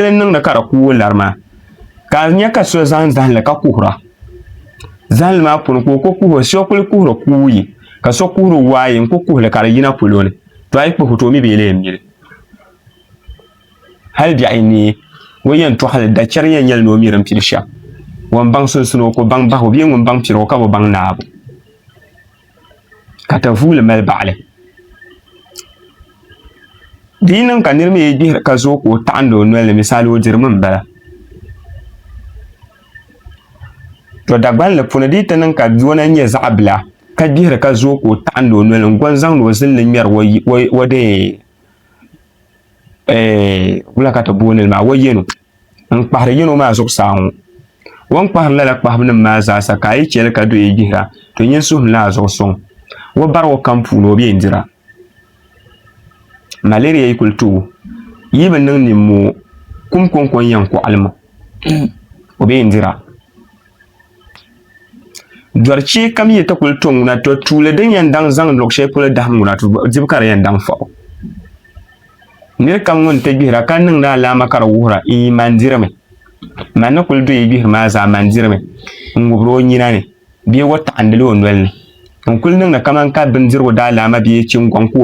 shɛli niŋdi ka di kuui lari maa ka a nyɛ ka so zaŋ zahali ka kuhura zahali maa puuni ka o ku kuhuri so kuli kuhuri kuui ka so kuhuri waayi n ku kuhuli ka di yina polo ni to a yi kpuhi to mi bi yɛli yɛn mili hali biɛɣu ni o yɛn tɔɣali da chɛri yɛn nyɛli ni o mi din piri shɛm ŋun baŋ sunsun o ko baŋ bahu bee ŋun baŋ piri o ka bi baŋ naabu ka tavuuli mali baɣali di yi niŋ ka niri mi yi gbihiri ka zooi ka o taɣindi o noli ni misali o dirimi n bala to dagbanli puuni di yi ti niŋ ka yona nyɛ zaɣa bila ka gbihiri ka zooi ka o taɣindi o noli n goni zaŋdi o zilli ŋmɛri o dee eh, wula ka ti booni li maa o yenu n kpahiri yino maa zuɣusaa ŋɔ. O ni kpahiri lala kpahibunim maa zaasa ka a yi chɛ li ka do yi gbihira, to nyin suhim la a zuɣu sɔŋ. O bari o kam puuni o bi yɛn dira. Malaria yi kul ti o, yi bi niŋ nimmoo, kum kɔŋko n-yɛn kɔɣili ma, o bi yɛn dira. Dɔri chee kam yi ti kuli to ŋuna, to tuuli din yɛn daŋ zaŋ luɣ shɛli polo dahim ŋuna, to dibu ka di yɛn daŋ fɔbu. Nir kam ŋun ti gbihira ka niŋdi alaama ka di wuhira n yi man dirimi, man ni kuli do yi gbihiri maa zaa man dirimi n-ŋubiri o nyina ni bee wo taɣindili o noli ni n-kuli niŋdi kaman ka bindirigu daalaama bee chingoŋ ka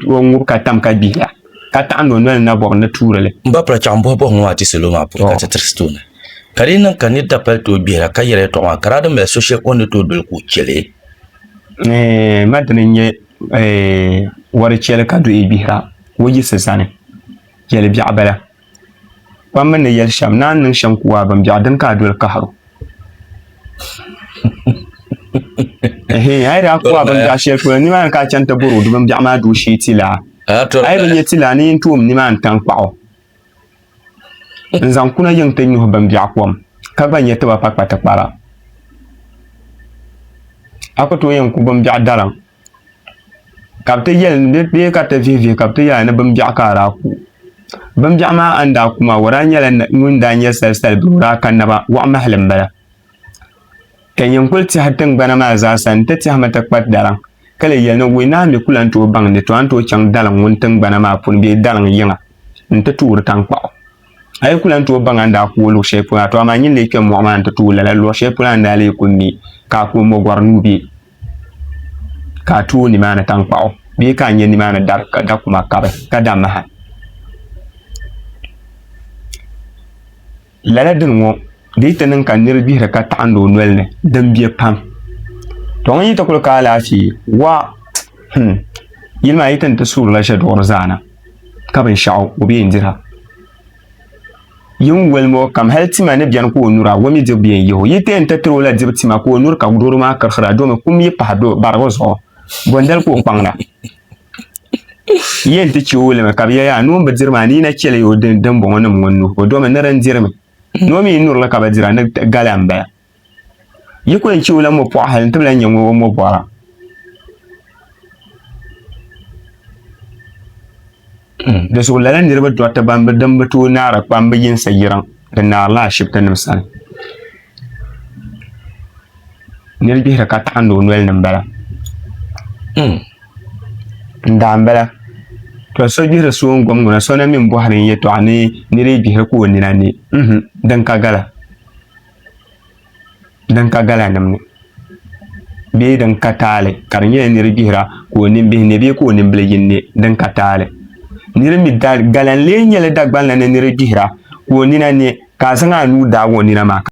o ŋub ka tam ka gbihira. ka taɣi no noli na bɔbu ni tuuri li. M ba Prachaŋ bɔhi bɔhi ŋɔ a ti salo maa polo ka ti tirisi tooni. Ka di yi niŋ ka nir dapali tooi gbihira ka yɛri yɛtɔɣ maa, ka daa di mali so shɛli o ni tooi doli ka o chɛ li. Eeh, ma dini n-nyɛ eeh wɔri chɛli ka duhi gbihira o yisi zani. Yɛli biɛɣu bala. Kpam mi ni yɛli shɛm, ni a ni niŋ shɛm ku a bimbɛɣu, dini ka a doli kahir o? Ɛhɛn, a yi daa ku a bimbɛɣu shɛli polo, nimaani ka a chani ti bɔri o di bimbɛɣu maa duu shee ti laa. A yi bi nya ti laa, ni yin toom nimaani taŋkpaɣu n-zaŋ kuna yiŋ ti nyuhi bimbɛɣu kom, ka gba nya ti ba pa kpatikpara. A ku tooi yɛn ku bimbɛɣu daliŋ. ka bi ti yɛli ni bi yɛ ka ti vihi vihi ka bi ti yɛli ni bin biɛɣu ka a daa ku bin biɛɣu maa a ni daa ku maa o daa nyɛla ŋun daa nyɛ sali sali bee o daa ka naba waɣa mahali n bala ka nyɛ n kuli tiɛhi tingbana maa zaa sa n ti tiɛhimi ti kpa daliŋ ka lee yɛli ni wee ni a mii ku lahi tooi baŋ ni a ni tooi chɛŋ daliŋ ŋuni tingbana maa puuni bee daliŋ yiŋa n ti toori tankpaɣu a yi ku lahi tooi baŋ a ni daa ku o luɣu shɛli polo maa to amaa n yi ni lee kpɛ moɣu maa ni ti tooi lala luɣu shɛli polo a ni daa lee ku mi ka a ku o mogori nuu bɛ ka a tooi nimaani tankpaɣu bee ka a nyɛ nimaani dari ka da kuma kabi ka da maha lala dini ŋɔ di yi ti niŋ ka niri gbihiri ka taɣindi o noli ni din bɛ pam to ŋun yi ti kuli ka alaafee wa hmm, yili maa yi ti ni ti suurila shɛduɣiri zaana ka binshaɣu o bee n dira Yi ni woli ma o kam, hal tima ni beni ka o nura a, o mi dibu bee n-yih o. Yi teei n-ti tiri o la dibu tima ka o nuri ka doro maa kirihira, domi kum yi pahi do barigu zuɣu, bondali ka o kpaŋda. Yi yɛn ti chɛ o limi, ka bɛ yɛli, Yaa noon bi diri maa, ni yi na chɛ li ya o dimbɔŋɔnim ŋɔ n-nuhi o, domi nir n-diri mi, ni o mi yi nuri li ka bi dira, ni gala m-bala. yi kuli chɛ o la mɔpɔɣu hali n ti bi lahi nyɛ ŋɔ o mɔbɔra di zuɣu lala niriba dɔriti ban bi din bi tooi naara kpam bi yinsi yiriŋ di naarila ashibitinim sani niri gbihiri ka taɣindi o noli ni m-bala daa m-bala to so gbihiri so n gom ŋuna so na mi n bɔhiri n yɛtɔɣa ni niri gbihiri ka o nina ne din ka gala din ka galanim ni bee din ka taali ka di nyɛla niri gbihira ka o nimbihi ne bee ka o nimbili yin ne din ka taali niri mi galan lee nyɛla Dagbanli ni niri gbihira ka o nina ne ka a zaŋ a nuu daagi o nina maa ka